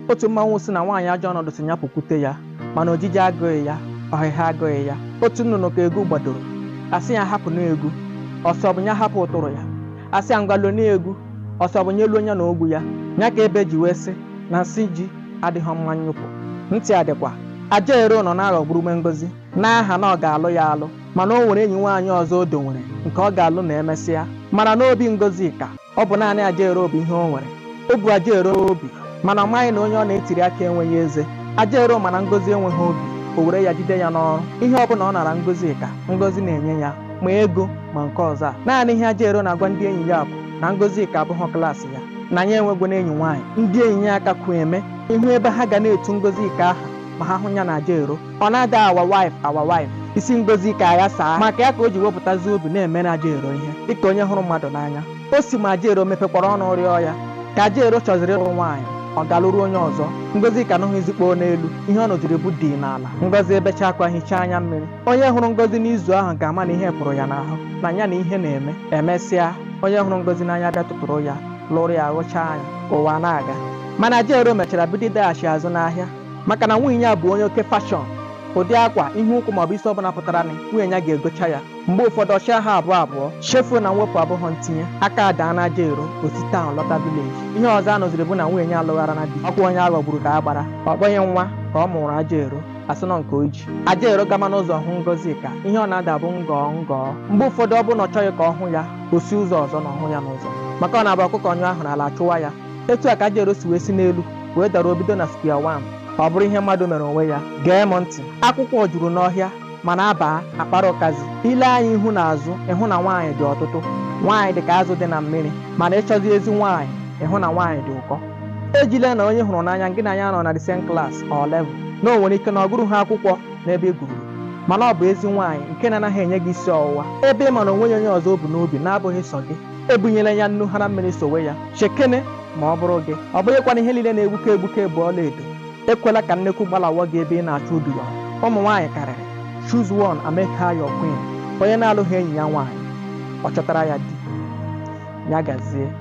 otu mmanwụ sị na nwaanyị ajọ ọnọdụ sị ya pụkwute ya mana ojiji agụghị ya ọhịha agụghị ya otu nnụnụ ka egu gbadoro a sị ya hapụnụ egu ọ sị ọ bụ ya hapụ ụtụrụ ya a sị ya ngwa lonụ egu ọ sị ọ bụ ya luo ya na ogwu ya ya ka ebe ji wee sị na nsị ji adịghị mma nyụpụ ntị adịkwa ajaero nọ na-aghọgburu ume ngozi n'aha na ọ ga-alụ ya alụ mana o nwere enyi nwaanyị ọzọ o dowere nke ọ ga-alụ na emesịa mana n'obi ngozika ọ bụ naanị ajaero bụ ihe o nwere o bu ajaero obi mana ọ maghị na onye ọ na-etiri akị enweghị eze ajaero ma na ngozi enweghị obi o were ya jide ya n'ọrụ ihe ọ bụla ọ nara ngozi ka ngozi na-enye ya ma ego ma nke ọzọ a naanị ihe ajaero na-agwa ndị enyi ya bụ na ngozika abụghị klaasị ya na ya enwegwonụ enyi nwaanyị ndị enyi ya akakwu eme ị hụ ebe ha ga na-etu ngozika aha ma ha hụ ya na ajaero ọ na-ada our wife our wife isi ngozika aghasaa maka ya ka o ji wepụtazi obi na-emere ajaero ihe dịka onye hụrụ mmadụ n'anya o si ma ajaero mepekwara ọnụ rịọ ya ka ajaero chọziri ịlụ nwaanyị ọ ga lụrụ onye ọzọ ngozika anụhụ izikpo n'elu ihe ọ nụziri bụ dim n'ala ngozi ebecha akwa hichaa anya mmiri onye hụrụ ngozi n'izu ahụ ga-ama na ihe pụrụ ya n'ahụ na ya na ihe na-eme emesịa onye hụrụ ngozi n'anya bịa tụtụrụ ya lụrụ ya ghụchaa anya ụwa na-aga mana ajaero mechara bido ịdaghachi azụ n'ahịa maka na nwunye ya bụ onye oke fashọn ụdị akwa ihe ụkwụ maọbụ isi ọbụla pụtara na nwunye ya ga-egocha ya mgbe ụfọdụ ọ chịa ha abụọ abụọ chefuo na mwepụ abụghọ ntinye aka adaa na ajaero o si taụn lọta vileji ihe ọzọ a nụziri bụ na nwunye ya alụgharana di ọ kwa onye a ghọgburu ka a gbara ọ bụghị nwa ka ọ mụụrụ ajaero a sị na ọ nke o ji ajaero gama n'ụzọ hụ ngozika ihe ọ na-ada bụ ngọọ ngọọ mgbe ụfọdụ ọ bụ na ọ chọghị ka ọ hụ ya o si ụzọ ọzọ na ọ hụ ya n'ụzọ maka ọ na-abụ ọkụkọ nyụọ ahụrụ ala achụwa ya etu a ka ajaero si wee si n'elu wee dara o bido na square one ọ bụrụ ihe mmadụ mere onwe ya gee m ntị akwụkwọ juru n'ọhịa mana a baa a kpara ụkazi i le anya ihu na azụ ị hụ na nwaanyị dị ọtụtụ nwaanyị dị ka azụ dị na mmiri mana ị chọzi ezi nwaanyị ị hụ na nwaanyị dị ụkọ ejila na onye ị hụrụ n'anya gị na ya anọghị na the same class or level na o nwere ike na ọ gụrughị akwụkwọ n'ebe ị gụruru mana ọ bụ ezi nwaanyị nke na-anaghị enye gị isi ọwụwa ebe ị ma na o nweghị onye ọzọ o bu n'obi na-abụghị sọ gị ebunyela ya nnu hara mmiri sowe ya chekene ma ọ bụrụ gị ọ bụghịkwanụ ihe niile na-egbuke egbuke bụ ọlaedo ekwela ka nnekwu gbalahụ gị ebe ị na-achọ udu ya ụmụ nwaanyị karịrị choose one and make her your queen onye na-alụghị enyi ya nwaanyị ọ chọtara ya di ya gazie